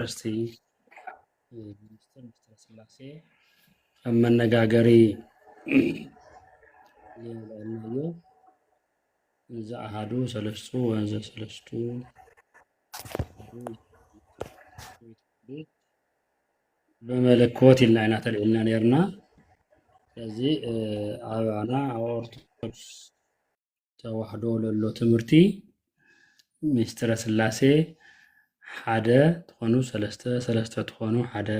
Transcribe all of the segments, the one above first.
ዩኒቨርሲቲ ሚኒስትር ሚስተር ስላሴ ኣብ መነጋገሪ የውለናዮ እዚ ኣሃዱ ሰለስቱ ወንዘ ሰለስቱ ብመለኮት ኢልና ኢና ተልዒልና ነርና ስለዚ ኣባና ኣብ ኦርቶዶክስ ተዋሕዶ ለሎ ትምህርቲ ሚስጥረ ስላሴ ሓደ ትኾኑ ሰለስተ ሰለስተ ትኾኑ ሓደ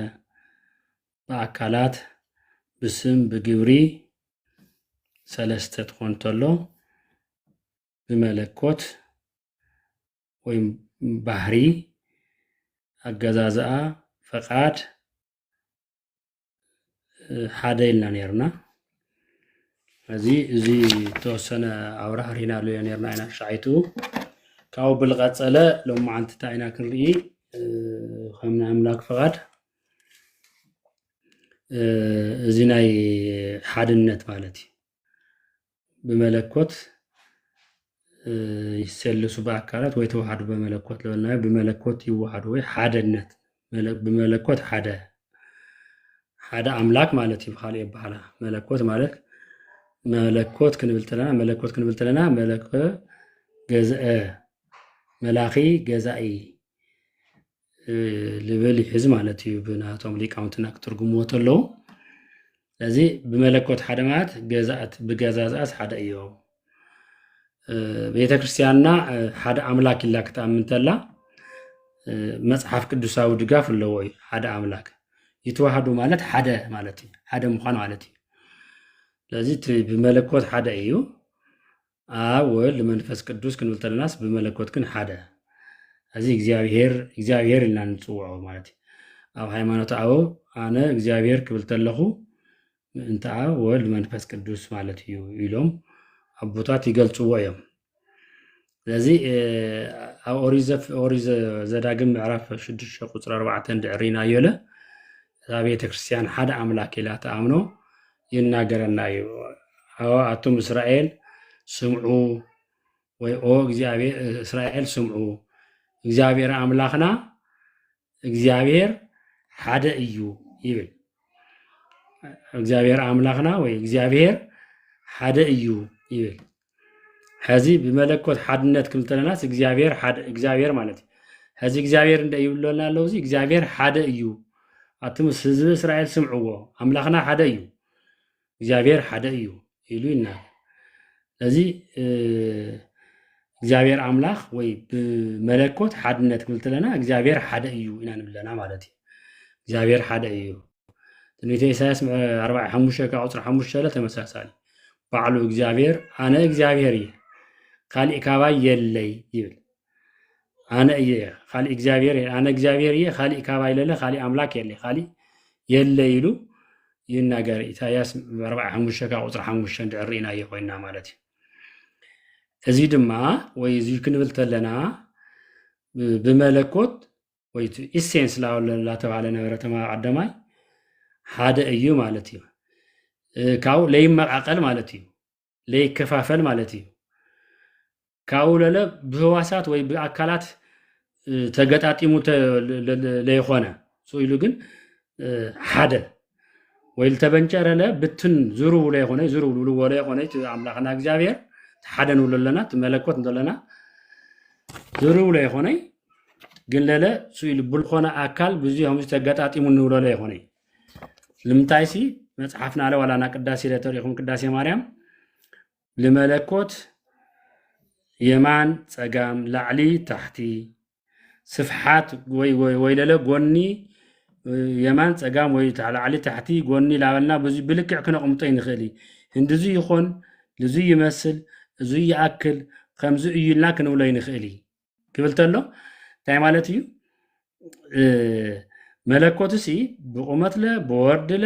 ብኣካላት ብስም ብግብሪ ሰለስተ ትኾን ተሎ ብመለኮት ወይም ባህሪ ኣገዛዝኣ ፈቃድ ሓደ ኢልና ነርና እዚ እዚ ተወሰነ ኣብራ ሪና ሎዮ ነርና ኢና ሻዓይቱ ካብኡ ብልቀፀለ ሎም መዓልቲ እንታይ ኢና ክንርኢ ከም ናይ ኣምላክ ፍቓድ እዚ ናይ ሓድነት ማለት እዩ ብመለኮት ይሰልሱ በአካላት ወይ ተዋህዱ በመለኮት ለበልናዮ ብመለኮት ይዋሃዱ ወይ ሓደነት ብመለኮት ሓደ ሓደ ኣምላክ ማለት እዩ ብካልእ ይበሃላ መለኮት ማለት መለኮት ክንብል ተለና መለኮት ክንብል ተለና መለኮ ገዝአ መላኺ ገዛኢ ልብል ይሕዝ ማለት እዩ ብናቶም ሊቃውንትና ክትርጉምዎ ተለዉ ስለዚ ብመለኮት ሓደ ማለት ገዛእት ብገዛዛእት ሓደ እዮ ቤተ ክርስቲያንና ሓደ ኣምላክ ኢላ ክትኣምን ተላ መፅሓፍ ቅዱሳዊ ድጋፍ ኣለዎ እዩ ሓደ ኣምላክ ይተዋህዱ ማለት ሓደ ማለት እዩ ሓደ ምኳን ማለት እዩ ስለዚ እቲ ብመለኮት ሓደ እዩ ኣብ ወልድ መንፈስ ቅዱስ ክንብል ተለናስ ብመለኮት ግን ሓደ እዚ እግዚኣብሄር እግዚኣብሄር ኢልና ንፅውዖ ማለት እዩ ኣብ ሃይማኖት ኣቦ ኣነ እግዚኣብሄር ክብል ተለኹ ምእንቲ ኣብ ወልድ መንፈስ ቅዱስ ማለት እዩ ኢሎም ኣቦታት ይገልፅዎ እዮም ስለዚ ኣብ ኦሪት ዘዳግም ምዕራፍ ሽዱሽተ ቁፅሪ ኣርባዕተ እንድዕሪናዮ ለ እዛ ቤተክርስትያን ሓደ ኣምላክ ኢላ ተኣምኖ ይናገረና እዩ ኣወ ኣቱም እስራኤል ስምዑ ወይ ኦ እስራኤል ስምዑ እግዚኣብሔር ኣምላኽና እግዚኣብሔር ሓደ እዩ ይብል እግዚኣብሔር ኣምላኽና ወይ እግዚኣብሔር ሓደ እዩ ይብል ሕዚ ብመለኮት ሓድነት ክብል ተለናስ እግዚኣብሔር ሓደ እግዚኣብሔር ማለት እዩ ሕዚ እግዚኣብሔር እንደ ይብለና ኣለዉ እዚ እግዚኣብሔር ሓደ እዩ ኣቱም ህዝቢ እስራኤል ስምዕዎ ኣምላኽና ሓደ እዩ እግዚኣብሔር ሓደ እዩ ኢሉ ይናገር እዚ እግዚኣብሔር ኣምላኽ ወይ ብመለኮት ሓድነት ክብል ተለና እግዚኣብሔር ሓደ እዩ ኢና ንብለና ማለት እዩ እግዚኣብሔር ሓደ እዩ ትንቢተ ኢሳያስ ምዕ- ኣርባዕ ሓሙሽተ ካብ ቁፅሪ ሓሙሽተ ለ ተመሳሳሊ ባዕሉ እግዚኣብሔር ኣነ እግዚኣብሔር እየ ካሊእ ካባይ የለይ ይብል ኣነ እየ ካሊእ እግዚኣብሔር እየ ኣነ እግዚኣብሔር እየ ካሊእ ካባይ ለለ ካሊእ ኣምላክ የለ ካሊእ የለ ኢሉ ይናገር ኢሳያስ ምዕ- ኣርባዕ ሓሙሽተ ካብ ቁፅሪ ሓሙሽተ እንድዕር ርኢናዮ ኮይና ማለት እዩ እዚ ድማ ወይ እዚ ክንብል ተለና ብ- ብመለኮት ወይ እቲ ኢሴንስ ላተባህለ ነበረ ተማሃ ቀዳማይ ሓደ እዩ ማለት እዩ ካብኡ ለይመቃቀል ማለት እዩ ለይከፋፈል ማለት እዩ ካብኡ ለለ ብህዋሳት ወይ ብኣካላት ተገጣጢሙ ለይኮነ ኢሉ ግን ሓደ ወይ ዝተበንጨረለ ብትን ዝርብሎ ይኾነ ዝርብልብልዎለ ይኾነ እቲ ኣምላኽና እግዚኣብሔር ሓደ ንብሎ ኣለና እቲ መለኮት እንተለና ዝርብሎ ይኾነ ግን ለለ ስኢሉ ብልኾነ ኣካል ብዙ ከምዚ ተገጣጢሙ ንብሎለ ይኾነ ልምንታይ ሲ መፅሓፍና ኣለ ዋላና ቅዳሴ ለተሪኹም ቅዳሴ ማርያም ልመለኮት የማን ፀጋም ላዕሊ ታሕቲ ስፍሓት ወይ ወይለለ ጎኒ የማን ፀጋም ወይ ላዕሊ ታሕቲ ጎኒ ላበልና ብዙ ብልክዕ ክነቕምጦ ይንኽእል እዩ እንድዙ ይኾን ልዙ ይመስል እዙ ይኣክል ከምዚ እዩ ኢልና ክንብሎ ይንኽእል እዩ ክብል ተሎ እንታይ ማለት እዩ መለኮትሲ ብቑመትለ ብወርድለ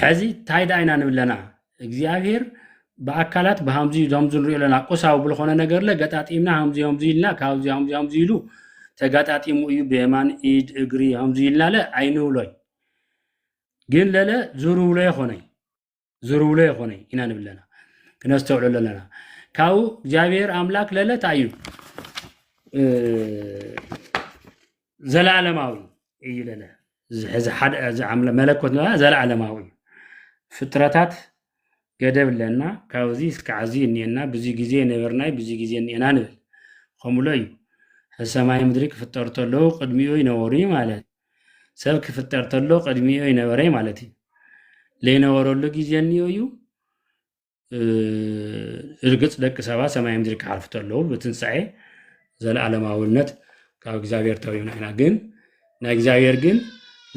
ሕዚ እንታይ ደኣ ኢና ንብል ኣለና እግዚኣብሄር ብኣካላት ብሃምዚ ከምዚ ንሪኦ ኣለና ቁሳዊ ብዝኾነ ነገር ለ ገጣጢምና ሃምዚ ሃምዚ ኢልና ካብዚ ሃምዚ ሃምዚ ኢሉ ተጋጣጢሙ እዩ ብየማን ኢድ እግሪ ሃምዚ ኢልና ለ ኣይንብሎይ ግን ለለ ዝርብሎ ይኾነይ ዝርብሎ ይኾነይ ኢና ንብል ኣለና ክነስተውዕሎ ኣለና ካብኡ እግዚኣብሄር ኣምላክ ለለ እንታይ እዩ ዘላለማዊ እዩ ለለ እዚ ሕዚ ሓደ እዚ ኣምለ- መለኮት ንበላ ዘላለማዊ እዩ ፍጥረታት ገደብ ኣለና ካብዚ እስካዕ እዚ እኒኤና ብዙ ግዜ ነበርናይ ብዙ ግዜ እኒኤና ንብል ከምሎ እዩ ሕዚ ሰማይ ምድሪ ክፍጠሩ ተለዉ ቅድሚኡ ይነበሩ እዩ ማለት ሰብ ክፍጠር ተሎ ቅድሚኡ ይነበረ እዩ ማለት እዩ ለይነበረሉ ግዜ እኒኦ እዩ እርግፅ ደቂ ሰባት ሰማይ ምድሪ ክሓልፉ ተለዉ ብትንሳኤ ዘለኣለማዊነት ካብ እግዚኣብሔር ተሪብና ኢና ግን ናይ እግዚኣብሔር ግን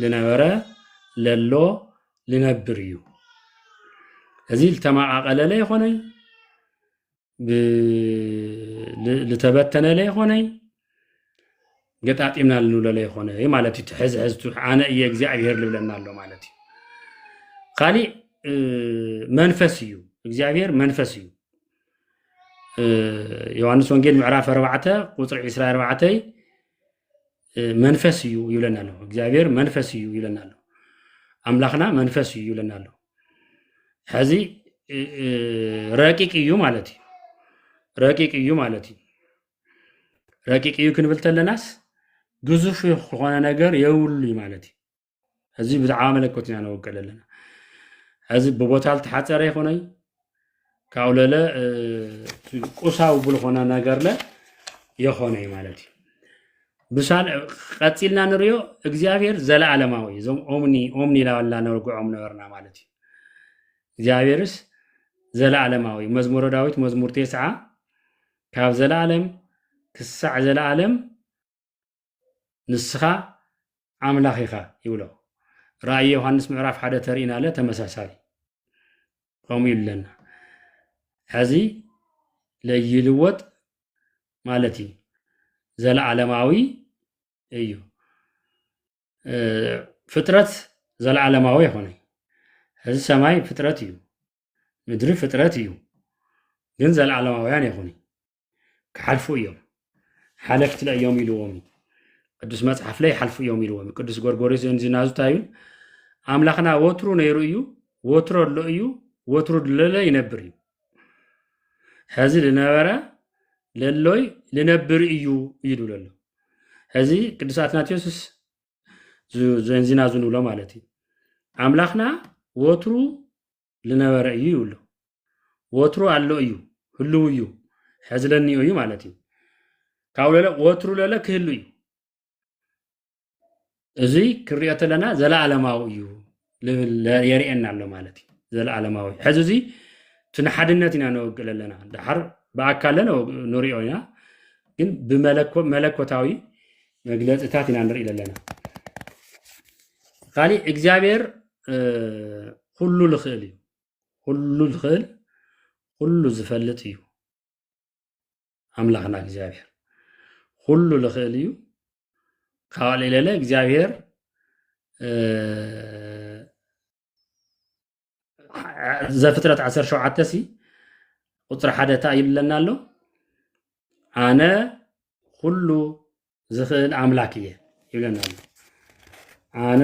ልነበረ ለሎ ልነብር እዩ እዚ ዝተመቃቀለለ ይኾነይ ልተበተነለ ይኾነይ ገጣጢምና ልንብሎ ዘይኮነ ማለት እዩ ሕዚ ሕዚ ኣነ እየ እግዚኣብሄር ልብለና ኣሎ ማለት እዩ ካሊእ መንፈስ እዩ እግዚኣብሄር መንፈስ እዩ ዮሃንስ ወንጌል ምዕራፍ 4 ቁፅሪ 24 መንፈስ እዩ ይብለና ኣሎ እግዚኣብሄር መንፈስ እዩ ይብለና ኣሎ ኣምላኽና መንፈስ እዩ ይብለና ኣሎ ሕዚ ረቂቅ እዩ ማለት እዩ ረቂቅ እዩ ማለት እዩ ረቂቅ እዩ ክንብል ተለናስ ግዙፍ ዝኾነ ነገር የብሉ እዩ ማለት እዩ እዚ ብዛዕባ መለኮት ኢና ነወቅዕ ዘለና እዚ ብቦታ ዝተሓፀረ ይኹነይ ካብኡ ለለ ቁሳዊ ብልኾነ ነገርለ የኾነ እዩ ማለት እዩ ብሳል ቀፂልና ንሪዮ እግዚኣብሔር ዘለዓለማዊ እዩ እዞም ኦምኒ ኦምኒ ላላ ነርግዖም ነበርና ማለት እዩ እግዚኣብሔርስ ዘለዓለማዊ መዝሙረ ዳዊት መዝሙር ቴስዓ ካብ ዘለኣለም ክሳዕ ዘለኣለም ንስኻ ኣምላኽ ኢኻ ይብሎ። ራእይ ዮሃንስ ምዕራፍ ሓደ ተርእና ኣለ ተመሳሳሊ ከምኡ እዩ ኣለና ሕዚ ለይልወጥ ማለት እዩ ዘለዓለማዊ እዩ ፍጥረት ዘለዓለማዊ ይኾነ ሕዚ ሰማይ ፍጥረት እዩ ምድሪ ፍጥረት እዩ ግን ዘለዓለማውያን ይኹኒ ክሓልፉ እዮም ሓለፍቲ እዮም ኢልዎም እዩ ቅዱስ መጽሓፍ ላይ ሓልፉ እዮም ኢልዎም ቅዱስ ጎርጎሪስ ዝናዙታ እዩ ኣምላኽና ወትሩ ነይሩ እዩ ወትሮ ኣሎ እዩ ወትሩ ድለለ ይነብር እዩ ሕዚ ዝነበረ ለሎይ ልነብር እዩ እዩ ዝብሎ ኣሎ ሕዚ ቅዱስ ኣትናቴዎስስ ዘንዚና ዝንብሎ ማለት እዩ ኣምላኽና ወትሩ ልነበረ እዩ ይብሉ። ወትሩ ኣሎ እዩ፣ ህልው እዩ፣ ሕዚ ለኒኡ እዩ ማለት እዩ። ካብ ለለ ወትሩ ለለ ክህሉ እዩ። እዚ ክንሪኦ ተለና ዘለኣለማዊ እዩ የርእየና ኣሎ ማለት እዩ። ዘለኣለማዊ ሕዚ እዚ እቲ ንሓድነት ኢና ነወግእ ኣለና ድሓር ብኣካለ ንሪኦ ኢና ግን ብመለኮታዊ መግለፅታት ኢና ንርኢ ዘለና ካሊእ እግዚኣብሔር ኩሉ ልኽእል እዩ ኩሉ ልኽእል ኩሉ ዝፈልጥ እዩ ኣምላኽና እግዚኣብሔር ኩሉ ልኽእል እዩ ካብ ሌለ እግዚኣብሔር ዘፍጥረት 17 ሲ ቁፅሪ ሓደ እታ ይብለና ኣሎ ኣነ ኩሉ ዝኽእል ኣምላክ እየ ይብለና ኣሎ ኣነ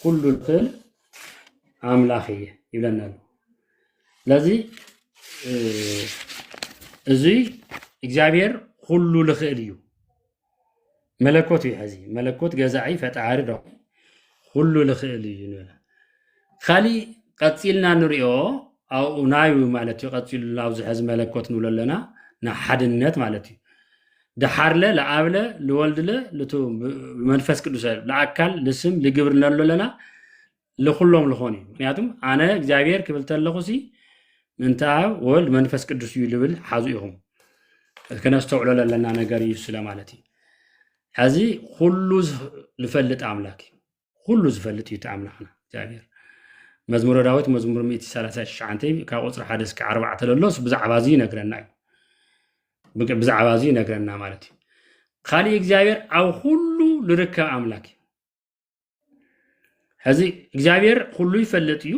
ኩሉ ዝኽእል ኣምላክ እየ ይብለና ኣሎ ስለዚ እዚ እግዚኣብሔር ኩሉ ልኽእል እዩ መለኮት እዩ ሕዚ መለኮት ገዛኢ ፈጣሪ ዶ ኩሉ ልኽእል እዩ ንበለ ካሊእ ቀፂልና ንሪኦ ኣብኡ ናዩ ማለት እዩ ቀፂሉ ናብዚ ሕዚ መለኮት ንብሎ ኣለና ንሓድነት ማለት እዩ ድሓርለ ለኣብለ ልወልድለ ልቱ ብመንፈስ ቅዱሰ ለኣካል ልስም ልግብር ንብሎ ኣለና ልኹሎም ልኾን እዩ ምክንያቱ ኣነ እግዚኣብሔር ክብል ተለኹ ሲ ምንተ ኣብ ወልድ መንፈስ ቅዱስ እዩ ልብል ሓዙ ኢኹም ክነስተውዕሎ ለለና ነገር እዩ ስለ ማለት እዩ ሕዚ ኩሉ ዝፈልጥ ኣምላክ እዩ ኩሉ ዝፈልጥ እዩ እቲ ኣምላክና እግዚኣብሔር መዝሙረ ዳዊት መዝሙር 139 ካብ ቁፅሪ ሓደ እስከ ዓርባዕተ ለሎስ ብዛዕባ እዚ ይነግረና እዩ ብዛዕባ እዚ ይነግረና ማለት እዩ ካሊእ እግዚኣብሔር ኣብ ኩሉ ዝርከብ ኣምላክ እዩ ሕዚ እግዚኣብሔር ኩሉ ይፈልጥ እዩ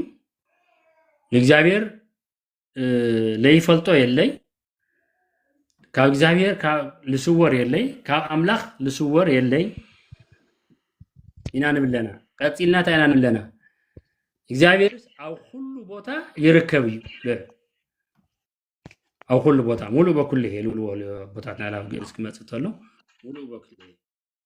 ንእግዚኣብሔር ለይፈልጦ የለይ ካብ እግዚኣብሔር ልስወር የለይ ካብ ኣምላኽ ልስወር የለይ ኢና ንብለና ቀፂልና እንታይ ኢና ንብለና እግዚኣብሔርስ ኣብ ኩሉ ቦታ ይርከብ እዩ ኣብ ኩሉ ቦታ ሙሉእ በኩሉ ይሄ ልብልዎ ቦታት ናይ ላብ ግእዝ ክመፅእ ተሎ ሙሉእ በኩሉ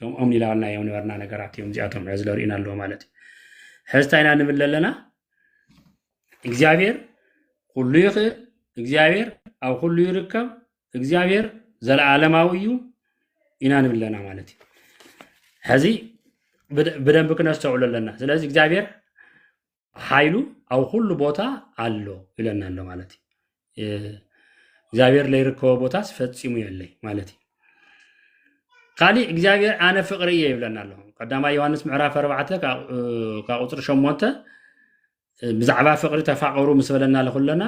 ከምኦም ኢላናዮም ነበርና ነገራት እዮም እዚኣቶም ሕዚ ለርእዩና ኣለዎ ማለት እዩ ሕዚ እንታይ ኢና ንብል ኣለና እግዚኣብሔር ኩሉ ይኽእል እግዚኣብሔር ኣብ ኩሉ ይርከብ እግዚኣብሔር ዘለዓለማዊ እዩ ኢና ንብል ኣለና ማለት እዩ ሕዚ ብደ- ብደንብ ክነስተውዕሉ ኣለና ስለዚ እግዚኣብሔር ሓይሉ ኣብ ኩሉ ቦታ ኣሎ ይብለና ኣሎ ማለት እዩ እግዚኣብሔር ለይርከቦ ቦታስ ፈፂሙ የለይ ማለት እዩ ካሊእ እግዚኣብሔር ኣነ ፍቅሪ እየ ይብለና ኣሎ ቀዳማይ ዮሃንስ ምዕራፍ ኣርባዕተ ካብ ቁፅሪ ሸሞንተ ብዛዕባ ፍቅሪ ተፋቀሩ ምስ በለና ለኩለና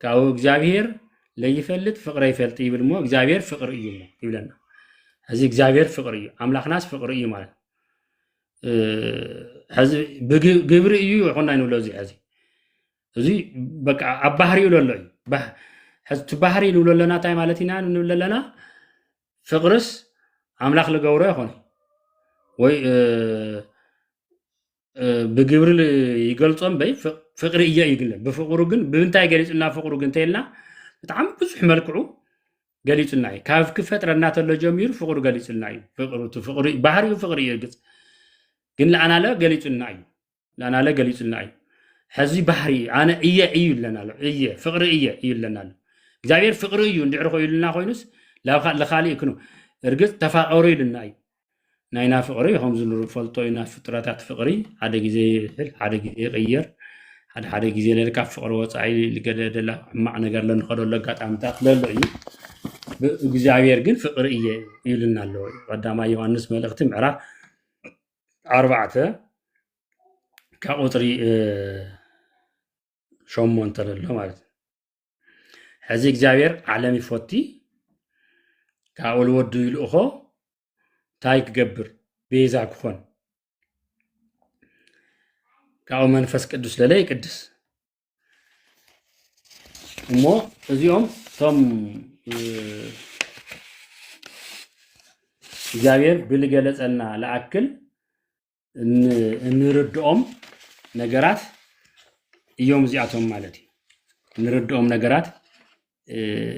ካብኡ እግዚኣብሄር ለይፈልጥ ፍቅረ ይፈልጥ ይብል እሞ እግዚኣብሄር ፍቅሪ እዩ እሞ ይብለና ሕዚ እግዚኣብሄር ፍቅሪ እዩ ኣምላኽናስ ፍቅሪ እዩ ማለት ሕዚ ብግብሪ እዩ ይኹና ይንብሎ እዚ ሕዚ እዚ በቃ ኣብ ባህሪ ይብሎ ኣሎ እዩ ሕዚ እቲ ባህሪ ንብሎ ኣለና እንታይ ማለት ኢና ንብል ኣለና ፍቅርስ ኣምላኽ ልገብሮ ይኾነ ወይ ብግብሪ ይገልፆ እምበይ ፍቅ- ፍቅሪ እየ እዩ ግለ ብፍቅሩ ግን ብምንታይ ገሊፁና ፍቅሩ ግን ተይልና ብጣዕሚ ብዙሕ መልክዑ ገሊፁና እዩ ካብ ክፈጥረና ተሎ ጀሚሩ ፍቅሩ ገሊፁልና እዩ ፍቅሩ እቲ ፍቅሪ ባህሪኡ ፍቅሪ እዩ እርግፅ ግን ለኣናለ ገሊፁልና እዩ ለኣናለ ገሊፁልና እዩ ሕዚ ባህሪ እዩ ኣነ እየ እዩ ኣለና ኣሎ እየ ፍቅሪ እየ እዩ ኣለና ኣሎ እግዚኣብሔር ፍቅሪ እዩ እንድዕሪ ኮይሉና ኮይኑስ ላብ ልካሊእ ክኑ እርግፅ ተፋቀሩ ኢሉና እዩ ናይና ፍቕሪ ከምዚ ንፈልጦ ኢና ፍጡራታት ፍቕሪ ሓደ ግዜ ይሕል ሓደ ግዜ ይቕየር ሓደ ሓደ ግዜ ለለ ካብ ፍቕሪ ወፃኢ ልገደደላ ሕማቕ ነገር ለንኸደሉ ኣጋጣሚታት ለሎ እዩ እግዚኣብሔር ግን ፍቕሪ እየ ይብልና ኣለዎ እዩ ቀዳማይ ዮሃንስ መልእኽቲ ምዕራፍ ኣርባዕተ ካብ ቁፅሪ ሸሞንተ ለሎ ማለት እዩ ሕዚ እግዚኣብሔር ዓለም ይፎቲ ካብኡ ልወዱ ይልእኾ እንታይ ክገብር ቤዛ ክኾን ካብኡ መንፈስ ቅዱስ ለለ ይቅድስ እሞ እዚኦም እቶም እግዚኣብሔር ብልገለፀና ለኣክል እንርድኦም ነገራት እዮም እዚኣቶም ማለት እዩ እንርድኦም ነገራት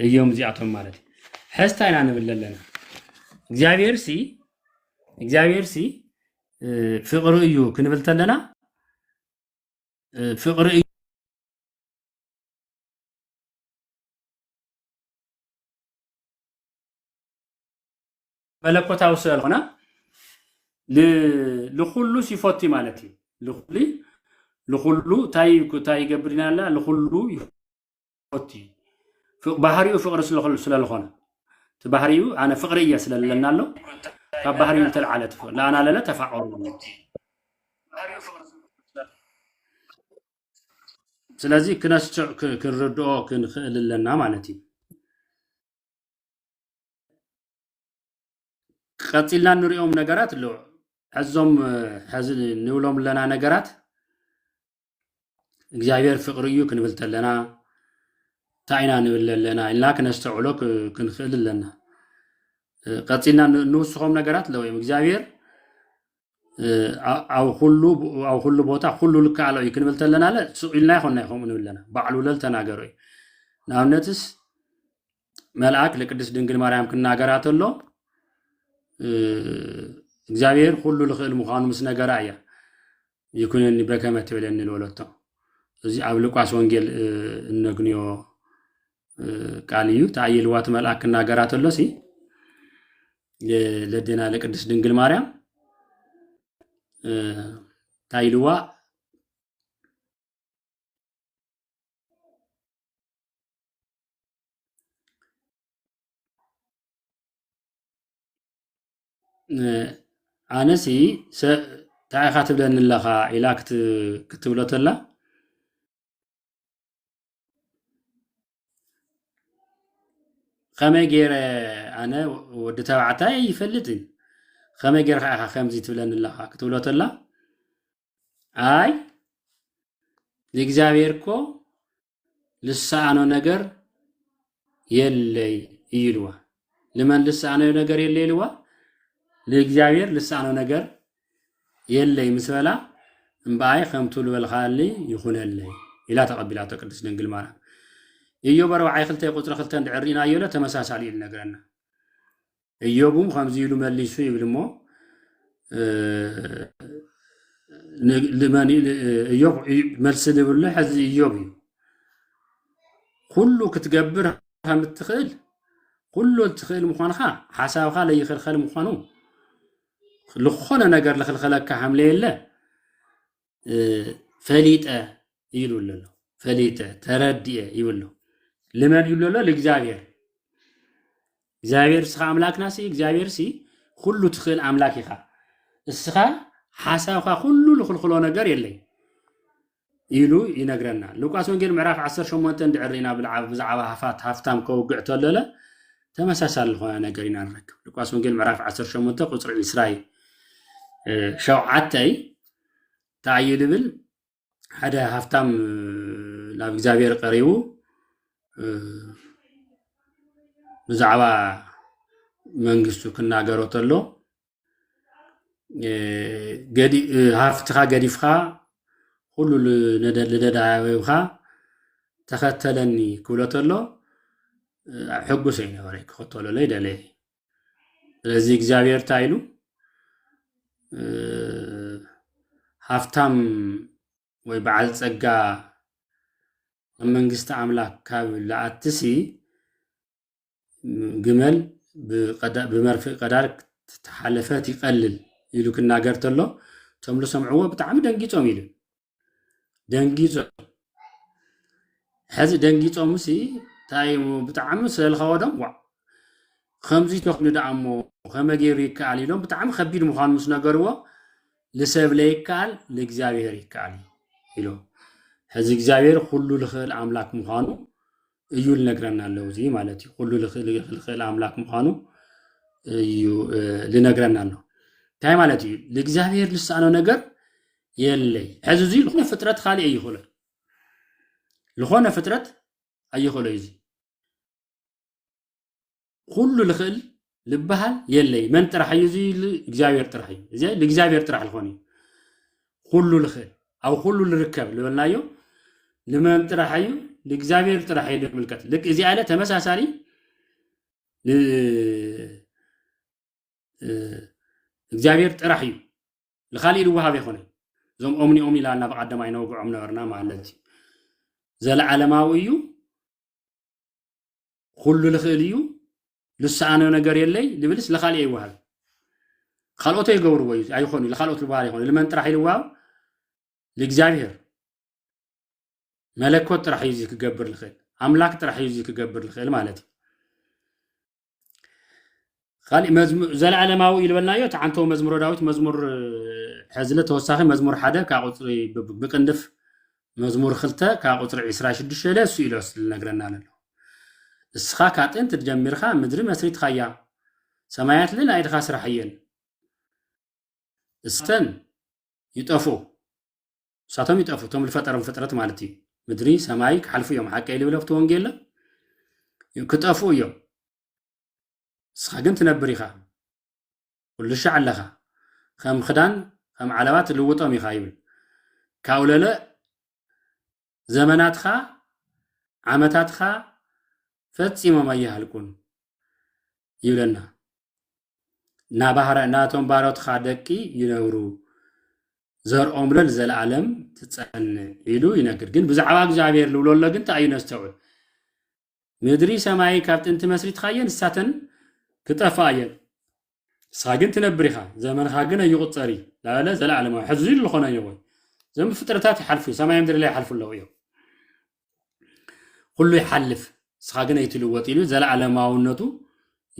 እዮም እዚኣቶም ማለት እዩ ሕስታ ኢና ንብል ኣለና እግዚኣብሔር ሲ እግዚኣብሔር ሲ ፍቅሪ እዩ ክንብል ተለና ፍቅሪ እዩ መለኮታዊ ስለዝኾነ ል- ልኹሉ ሲፎቲ ማለት እዩ ልኹሉ ልኹሉ እንታይ እንታይ ይገብር ኢና ኣላ ልኹሉ ይፎቲ ፍ- ባህሪኡ ፍቅሪ ስለኾ- ስለዝኾነ እቲ ባህሪኡ ኣነ ፍቅሪ እየ ስለለና ኣሎ ካብ ባህሪኡ ዝተልዓለ ትፍ- ለኣናለለ ተፋቀሩ ስለዚ ክነስዕ ክ- ክንርድኦ ክንኽእል ኣለና ማለት እዩ ቀጺልና እንሪኦም ነገራት ኣለዉ ሕዞም ሕዚ ንብሎም ኣለና ነገራት እግዚኣብሔር ፍቅሪ እዩ ክንብል ተለና እንታይ ኢና ንብል ኣለና ኢልና ክነስተውዕሎ ክንክእል ኣለና ቀጺልና እንውስኾም ነገራት ኣለዉ እዮም እግዚኣብሔር ኣብ ኩሉ ኣብ ኩሉ ቦታ ኩሉ ልከኣሎ እዩ ክንብል ተለና ለ ስቅ ኢልና ይኮና ከምኡ ንብለና ባዕሉ ለል ተናገሮ እዩ ንኣብነትስ መልኣክ ንቅድስት ድንግል ማርያም ክናገራ ተሎ እግዚኣብሔር ኩሉ ልኽእል ምዃኑ ምስ ነገራ እያ ይኩነኒ በከመ ትብለኒ ዝበለቶ እዚ ኣብ ሉቃስ ወንጌል እነግንዮ ቃል እዩ ተኣይልዋ እቲ መልኣክ ክናገራ ተሎ ሲ ለደና ለቅድስት ድንግል ማርያም ታይልዋ ኣነሲ እንታይ ኢኻ ትብለኒ ኣለኻ ኢላ ክትብሎ ተላ ከመይ ገይረ ኣነ ወዲ ተባዕታይ ይፈልጥን ከመይ ገይርካ ኢኻ ከምዚ ትብለኒ ኣለኻ ክትብሎ ተላ ኣይ ንእግዚኣብሔር እኮ ልሰኣኖ ነገር የለይ እዩ ኢልዋ። ንመን ልሰኣኖ ነገር የለ ኢልዋ? ንእግዚኣብሔር ልሰኣኖ ነገር የለይ ምስ በላ እምበኣይ ከምቱ ዝበልካኒ ይኹነለይ ኢላ ተቐቢላቶ ቅድስት ድንግል ማርያም። ኢዮብ ኣርብዓይ ክልተ ቁፅሪ ክልተ እንድሕር ርኢናዮ ለ ተመሳሳሊ እዩ ዝነግረና። እዮብ እውን ከምዚ ኢሉ መሊሱ ይብል እሞ እዮብ መልሲ ዝብሉ ሕዚ እዮብ እዩ ኩሉ ክትገብር ከም እትኽእል ኩሉ እትኽእል ምዃንካ ሓሳብካ ለይኽልኸል ምዃኑ ዝኾነ ነገር ልኽልኸለካ ከም ለየለ ፈሊጠ ይብል ኣሎ ፈሊጠ ተረድየ ይብል ኣሎ ልመን ይብሎ ኣሎ ልእግዚኣብሔር እግዚኣብሔር እስኻ ኣምላክና ሲ እግዚኣብሔር ሲ ኩሉ ትኽእል ኣምላክ ኢኻ እስኻ ሓሳብካ ኩሉ ልኽልክሎ ነገር የለይ ኢሉ ይነግረና ሉቃስ ወንጌል ምዕራፍ 18 እንድዕር ኢና ብዛዕባ ሃፋት ሃፍታም ከውግዕ ተለለ ተመሳሳሊ ዝኾነ ነገር ኢና ንረክብ ሉቃስ ወንጌል ምዕራፍ 18 ቁፅሪ 20 ሸውዓተይ እንታይ እዩ ዝብል ሓደ ሃፍታም ናብ እግዚኣብሔር ቀሪቡ ብዛዕባ መንግስቱ ክናገሮ ተሎ ሃፍትኻ ገዲፍካ ኩሉ ልደዳዊካ ተኸተለኒ ክብሎ ተሎ ሕጉስ ኣይነበረ ክኸተለለይ ደለየ ስለዚ እግዚኣብሔር እንታይ ኢሉ እ፣ ሃፍታም ወይ በዓል ጸጋ ኣብ መንግስቲ ኣምላክ ካብ ልኣትሲ ግመል ብቀዳ- ብመርፍእ ቀዳር ተሓለፈት ይቀልል ኢሉ ክናገር ተሎ እቶም ዝሰምዕዎ ብጣዕሚ ደንጊጾም ኢሉ ደንጊጾ ሕዚ ደንጊጾም ሲ እንታይ ብጣዕሚ ስለልኸወዶም ዋ ከምዚ ተኽኑ ደኣ እሞ ከመይ ገይሩ ይከኣል ኢሎም ብጣዕሚ ከቢድ ምዃኑ ምስ ነገርዎ ንሰብ ለይከኣል ንእግዚኣብሔር ይከኣል ኢሎ ሕዚ እግዚኣብሔር ኩሉ ልኽእል ኣምላክ ምዃኑ እዩ ልነግረና ኣሎ እዚ ማለት እዩ ኩሉ ልኽእል ኣምላክ ምኳኑ እዩ ልነግረና ኣሎ እንታይ ማለት እዩ ልእግዚኣብሔር ልሳኖ ነገር የለይ ሕዚ እዚ ዝኾነ ፍጥረት ካሊእ ኣይኽእሎ ዝኾነ ፍጥረት ኣይኽእሎ እዩ እዚ ኩሉ ልኽእል ልበሃል የለይ መን ጥራሕ እዩ እዚ እግዚኣብሔር ጥራሕ እዩ እዚ ንእግዚኣብሔር ጥራሕ ልኾን እዩ ኩሉ ልኽእል ኣብ ኩሉ ልርከብ ልበልናዮ ንመን ጥራሕ እዩ ንእግዚኣብሔር ጥራሕ እዩ ልምልከት ልክ እዚ ኣለ ተመሳሳሊ እግዚኣብሔር ጥራሕ እዩ ንካሊእ ልወሃብ ይኮነ እዞም ኦምኒኦም ኢላልና ብቀደማ ይነውግዖም ነበርና ማለት እዩ ዘለዓለማዊ እዩ ኹሉ ልኽእል እዩ ልሰኣኖ ነገር የለይ ልብልስ ልኻልኤ ይወሃብ ካልኦቶ ይገብርዎ እዩ ኣይኾኑ ልካልኦት ልበሃል ኣይኾኑ ልመን ጥራሕ ይልዋው ልእግዚኣብሔር መለኮት ጥራሕ እዩ እዚ ክገብር ልኽእል ኣምላክ ጥራሕ እዩ እዚ ክገብር ልኽእል ማለት እዩ ኻሊእ መዝሙ ዘለኣለማዊ እዩ ልበልናዮ እቲ ዓንተዎ መዝሙረ ዳዊት መዝሙር ሕዝለ ተወሳኺ መዝሙር ሓደ ካብ ቁፅሪ ብ- ብቅንድፍ መዝሙር ክልተ ካብ ቁፅሪ ዒስራ ሽዱሽተ ኢለ እሱ ኢሎ ስለነግረና ለሎ ንስኻ ካብ ጥንቲ ጀሚርኻ ምድሪ መስሪትኻያ ሰማያት ለ ናይ ኢድኻ ስራሕ እየን እሰን ይጠፍኡ ንሳቶም ይጠፍኡ እቶም ዝፈጠሮም ፍጥረት ማለት እዩ ምድሪ ሰማይ ክሓልፉ እዮም ሓቀይ ልብለፍቲ ወንጌል ክጠፍኡ እዮም ንስኻ ግን ትነብር ኢኻ ኩልሻዕ ኣለኻ ከም ኽዳን ከም ዓለባ ትልውጦም ኢኻ ይብል ካውለለ ዘመናትኻ ዓመታትኻ ፈጺሞም ኣይሃልቁን ይብለና ናቶም ባሮትኻ ደቂ ይነብሩ ዘርኦም ለል ዘለኣለም ትጸንዕ ኢሉ ይነግር ግን ብዛዕባ እግዚኣብሔር ልብሎ ኣሎ ግን እንታይ እዩ ነስተውዕል ምድሪ ሰማይ ካብ ጥንቲ መስሪትኻየን ንሳተን ክጠፍኣ እየን ንስኻ ግን ትነብር ኢኻ ዘመንኻ ግን ኣይቑጸር እዩ ላበለ ዘለዓለማዊ ሕዚ ኢሉ ዝኾነ እዩ ወይ እዞም ፍጥረታት ይሓልፉ ሰማይ ምድሪ ላይ ይሓልፉ ኣለዉ እዮም ኩሉ ይሓልፍ ንስኻ ግን ኣይትልወጥ ኢሉ ዘለዓለማውነቱ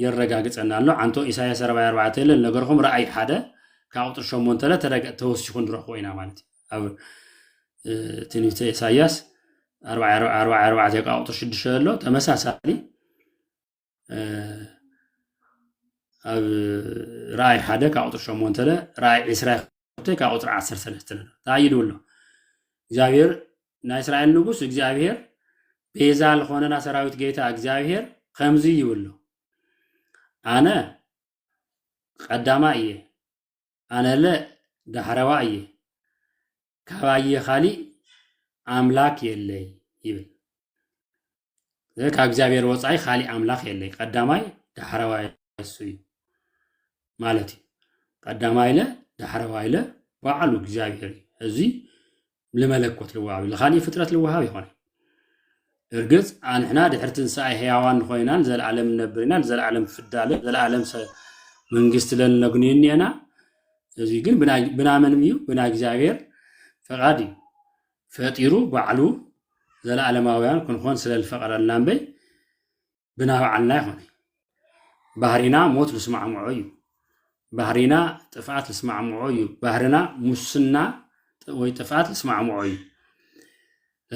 የረጋግጸና ኣሎ ዓንቶ ኢሳያስ 44 የለን ነገርኩም ረኣይ ሓደ ካብ ቁጥሪ ሸሞንተለ ተወሲኹ ንረኽቦ ኢና ማለት እዩ ኣብ ትንቢተ ኢሳያስ ኣርባዓ ኣርባዓ ኣርባዓ ኣርባዕተ ካብ ቁፅሪ ሽዱሽተ ዘሎ ተመሳሳሊ እ፣ ኣብ ራእይ ሓደ ካብ ቁፅሪ ሸሞንተ ለ ራእይ ዕስራ ክልተ ካብ ቁፅሪ ዓሰርተ ሰለስተ ዘሎ እንታይ እዩ ድብሎ እግዚኣብሔር ናይ እስራኤል ንጉስ እግዚኣብሔር ቤዛ ዝኾነና ሰራዊት ጌታ እግዚኣብሔር ከምዚ ይብሎ ኣነ ቀዳማይ እየ ኣነለ ዳሕረዋ እየ፣ ካባየ ኻሊእ ኣምላክ የለይ ይብል። ስለዚ ካብ እግዚኣብሔር ወፃኢ ኻሊእ ኣምላክ የለይ፣ ቀዳማይ ዳሕረዋይ እሱ እዩ ማለት እዩ። ቀዳማይለ ዳሕረዋይለ ባዕሉ እግዚኣብሔር እዩ። እዚ ንመለኮት ልወሃብ ንኻሊእ ፍጥረት ልወሃብ ይኾነ እርግፅ ኣንሕና ድሕሪ ትንሳኤ ህያዋን ንኮይና ንዘለኣለም ንነብር ኢና ንዘለኣለም ፍዳለ ዘለኣለም መንግስቲ ለን ነግንዩ እኒአና እዚ ግን ብናመን እዩ ብናይ እግዚኣብሔር ፈቃድ እዩ ፈጢሩ ባዕሉ ዘለኣለማውያን ክንኾን ስለዝፈቀረልና እምበይ ብናብዓልና ይኹን ባህሪና ሞት ልስማዕምዖ እዩ ባህሪና ጥፍኣት ልስማዕምዖ እዩ ባህርና ሙስና ወይ ጥፍኣት ልስማዕምዖ እዩ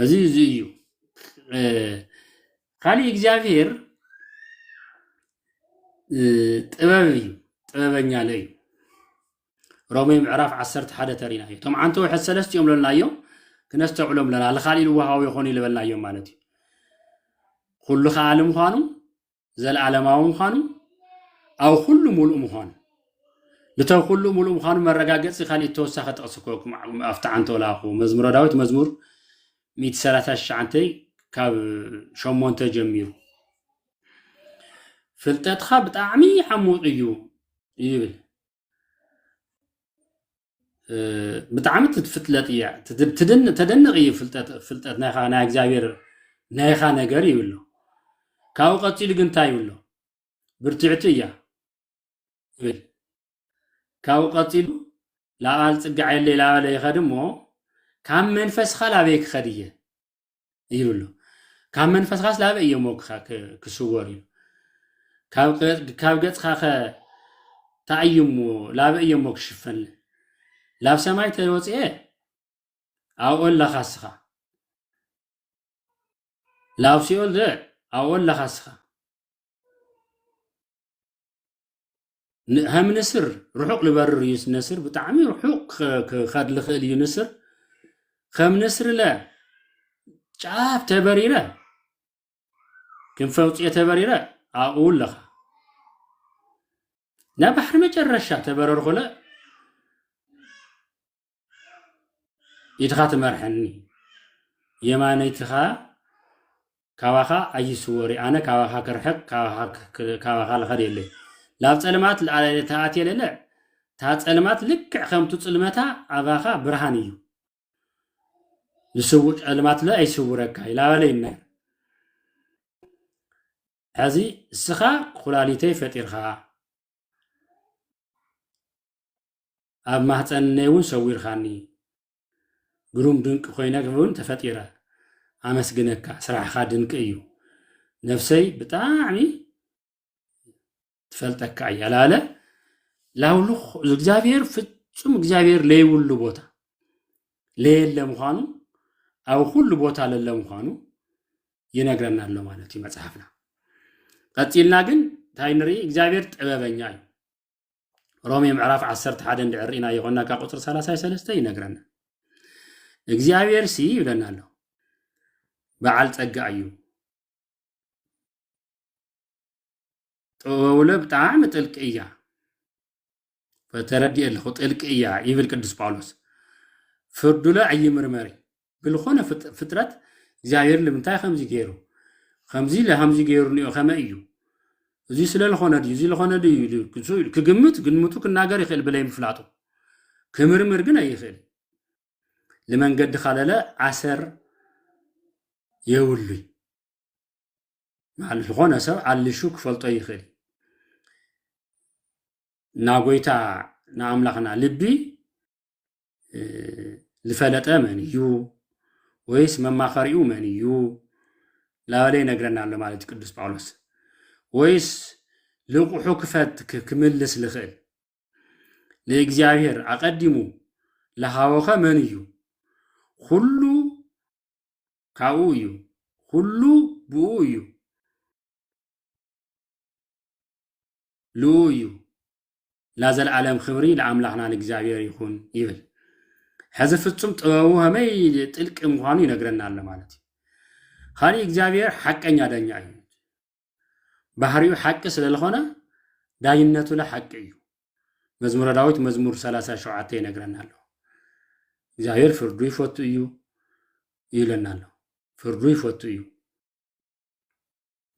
እዚ እዚ እዩ ካሊእ እግዚኣብሄር ጥበብ እዩ ጥበበኛ ለ እዩ ሮሜ ምዕራፍ ዓሰርተ ሓደ ተሪና እዩ እቶም ዓንተ ውሕድ ሰለስቲኦም ለልናዮም ክነስተውዕሎም ለና ልካልእ ልወሃዊ ይኾኑ ይልበልናዮም ማለት እዩ ኩሉ ከኣሊ ምዃኑ ዘለዓለማዊ ምዃኑ ኣብ ኩሉ ሙሉእ ምዃኑ ንተ ኩሉ ሙሉእ ምዃኑ መረጋገፂ ካልእ ተወሳኺ ጥቕሲ ኮኩም ኣብቲ ዓንተ ላኹ መዝሙረ ዳዊት መዝሙር 139 ካብ ሸሞንተ ጀሚሩ ፍልጠትካ ብጣዕሚ ዓሙቕ እዩ ይብል ብጣዕሚ ትፍለጥ እያ ተደንቕ እዩ ፍልጠት ናይካ ናይ እግዚኣብሔር ናይካ ነገር ይብሎ ካብኡ ቀፂሉ ግን እንታይ ይብሎ ብርትዕቲ እያ ይብል ካብኡ ቀፂሉ ላቃል ፅጋዕ የለ ላበለ ይኸድ እሞ ካብ መንፈስካ ላበይ ክኸድ እየ ይብሎ ካብ መንፈስኻስ ላበይ እዮሞ ክስወሩ እዩ ካብ ገጽካ ከ ታእዩሞ ላበይ እዮሞ ክሽፈን ላብ ሰማይ ተወጽኤ ኣብኦ ኣለኻ እስኻ ላብ ሲኦል ዘ ኣብኦ ኣለኻ እስኻ ሃይሚ ንስር ርሑቕ ልበርር እዩ ነስር ብጣዕሚ ርሑቕ ክኸ- ክኸድ ልኽእል እዩ ንስር ከም ንስርለ ጫፍ ተበሪረ ክንፈውፅየ ተበሪረ ኣብኡ ኣለኻ ናብ ባሕሪ መጨረሻ ተበረርኹለ ኢድኻ ትመርሐኒ የማነይትኻ ካባኻ ኣይስወሪ ኣነ ካባኻ ክርሕቅ ካባኻ ልኸድ የለይ ላብ ፀልማት ተኣትየ ለለ እታ ፀልማት ልክዕ ከምቱ ፅልመታ ኣባኻ ብርሃን እዩ ፀልማት ለ ኣይስውረካ ይላበለይ ነ ሕዚ እስኻ ኩላሊተይ ፈጢርካ ኣብ ማህጸን እነይ ውን ሰዊርካኒ ግሩም ድንቂ ኮይነ ውን ተፈጢረ ኣመስግነካ ስራሕካ ድንቂ እዩ ነብሰይ ብጣዕሚ ትፈልጠካ እያ ላለ ላውልኽ እግዚኣብሔር ፍጹም እግዚኣብሔር ለይብሉ ቦታ ለየለ ምዃኑ ኣብ ኩሉ ቦታ ለለ ምዃኑ ይነግረና ኣሎ ማለት እዩ መጽሓፍና ቀጺልና ግን እንታይ ንርኢ እግዚኣብሔር ጥበበኛ እዩ ሮሜ ምዕራፍ ዓሰርተ ሓደ እንድዕር ኢና ይኾና ካብ ቁፅሪ ሰላሳይ ሰለስተ ይነግረና እግዚኣብሔር ሲ ይብለና ኣሎ በዓል ፀጋ እዩ ጥበቡለ ብጣዕሚ ጥልቂ እያ ተረዲእ ኣለኹ ጥልቂ እያ ይብል ቅዱስ ጳውሎስ ፍርዱለ ኣይምርመሪ ብልኾነ ፍጥረት እግዚኣብሔር ልምንታይ ከምዚ ገይሩ ከምዚ ለሃምዚ ገይሩ ንኦ ከመ እዩ እዚ ስለ ልኾነ ድዩ እዚ ልኾነ ድዩ ክግምት ግምቱ ክናገር ይኽእል ብለይ ምፍላጡ ክምርምር ግን ኣይኽእል ልመንገዲ ካለለ ዓሰር የብሉይ ዝኾነ ሰብ ኣልሹ ክፈልጦ ይኽእል ናጎይታ ንኣምላኽና ልቢ ዝፈለጠ መን እዩ ወይስ መማኸሪኡ መን እዩ ላበለ ይነግረና ኣሎ ማለት እዩ ቅዱስ ጳውሎስ ወይስ ልቑሑ ክፈት ክምልስ ዝኽእል ንእግዚኣብሔር ኣቐዲሙ ለሃወኸ መን እዩ ኩሉ ካብኡ እዩ ኩሉ ብኡ እዩ ልኡ እዩ ላዘልኣለም ኽብሪ ልኣምላኽና ልእግዚኣብሔር ይኹን ይብል ሕዚ ፍጹም ጥበቡ ኸመይ ጥልቂ ምዃኑ ይነግረና ኣሎ ማለት እዩ ኻሊእ እግዚኣብሔር ሓቀኛ ዳኛ እዩ ባህሪኡ ሓቂ ስለ ዝኾነ ዳይነቱ ለሓቂ እዩ መዝሙረ ዳዊት መዝሙር 37 ይነግረና ኣሎ እግዚኣብሔር ፍርዱ ይፈቱ እዩ ይብለና ኣሎ ፍርዱ ይፈቱ እዩ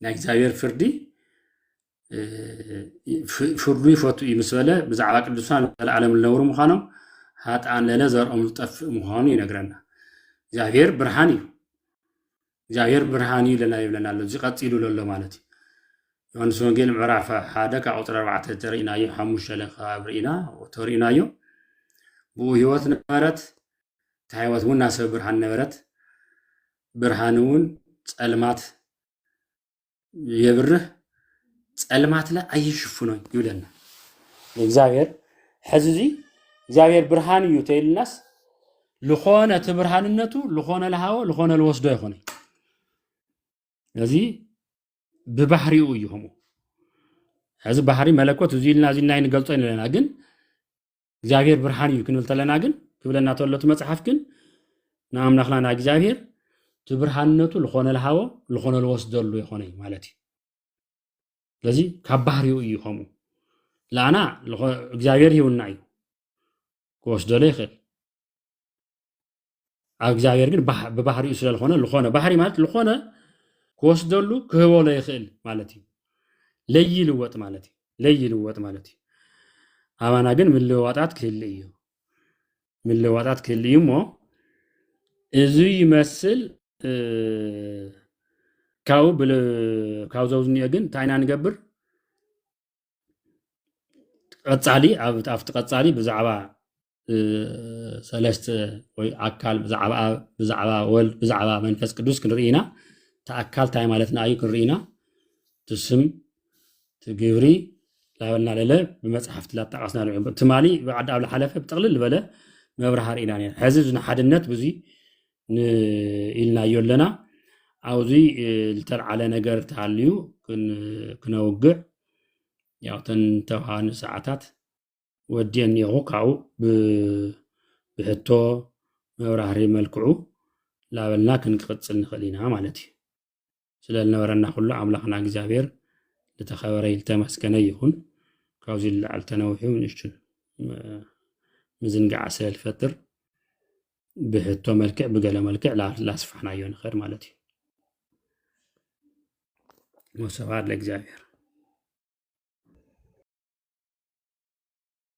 ናይ እግዚኣብሔር ፍርዲ ፍርዱ ይፈቱ እዩ ምስ በለ ብዛዕባ ቅዱሳን ዘለዓለም ዝነብሩ ምዃኖም ሃጣን ለለ ዘርኦም ዝጠፍእ ምዃኑ ይነግረና እግዚኣብሔር ብርሃን እዩ እግዚኣብሔር ብርሃን እዩ ለና ይብለና ኣሎ እዚ ቀፂሉ ዘሎ ማለት እዩ ዮሐንስ ወንጌል ምዕራፍ ሓደ ካብ ቁፅሪ ኣርባዕተ ተርእናዮ ሓሙሽተ ለካብ ርኢና ተርእናዮ ብኡ ህይወት ነበረት እታ ህይወት እውን ናሰብ ብርሃን ነበረት ብርሃን እውን ጸልማት የብርህ ጸልማትለ ኣይሽፍኖን ይብለና እግዚኣብሔር ሕዚ እዚ እግዚኣብሔር ብርሃን እዩ ተይልናስ ልኾነ እቲ ብርሃንነቱ ልኾነ ልሃወ ልኾነ ልወስዶ ይኾነ እዚ ብባህሪኡ እዩ ከምኡ ሕዚ ባህሪ መለኮት እዚ ኢልና እዚ ኢልና ንገልጾ ኢና ግን እግዚኣብሔር ብርሃን እዩ ክንብል ተለና ግን ክብለና ተሎ እቲ መፅሓፍ ግን ንኣምላኽና ንእግዚኣብሔር እቲ ብርሃንነቱ ዝኾነ ልሃቦ ዝኾነ ልወስደሉ ይኾነ እዩ ማለት እዩ ስለዚ ካብ ባህሪኡ እዩ ከምኡ ለኣና እግዚኣብሔር ሂውና እዩ ክወስደሉ ይኽእል ኣብ እግዚኣብሔር ግን ብባህሪኡ ስለዝኾነ ዝኾነ ባህሪ ማለት ዝኾነ ክወስደሉ ክህቦ ለይኽእል ማለት እዩ ለይልወጥ ማለት እዩ ለይልወጥ ማለት እዩ ኣባና ግን ምልዋጣት ክህል እዩ ምልዋጣት ክህል እዩ እሞ እዚ ይመስል ካብኡ ካብዘው ዝኒኦ ግን እንታይ ኢና ንገብር ቀፃሊ ኣብቲ ቀፃሊ ብዛዕባ ሰለስተ ወይ ኣካል ብዛዕባ ኣብ ብዛዕባ ወልድ ብዛዕባ መንፈስ ቅዱስ ክንርኢ ኢና እቲ ኣካል እንታይ ማለትና እዩ ክንርኢ ኢና እቲ ስም እቲ ግብሪ ላበልና ለለ ብመፅሓፍቲ ላጣቐስና ትማሊ ብዓዲ ኣብ ዝሓለፈ ብጥቕልል ዝበለ መብራሃር ኢና ነር ሕዚ ንሓድነት ብዙ ኢልናዮ ኣለና ኣብዚ ዝተልዓለ ነገር ተሃልዩ ክነውግዕ ያው ተን ተውሃኑ ሰዓታት ወድየን እኒኹ ካብኡ ብሕቶ መብራህሪ መልክዑ ላበልና ክንቅፅል ንኽእል ኢና ማለት እዩ ስለ ዝነበረና ኩሉ ኣምላኽና እግዚኣብሔር ዝተኸበረ ዝተመስገነ ይኹን። ካብዚ ልላዕል ተነዊሑ ንእሽቱ ምዝንጋዓ ስለ ዝፈጥር ብሕቶ መልክዕ ብገለ መልክዕ ላስፋሕናዮ ንኸድ ማለት እዩ። ወስብሐት ለእግዚኣብሔር።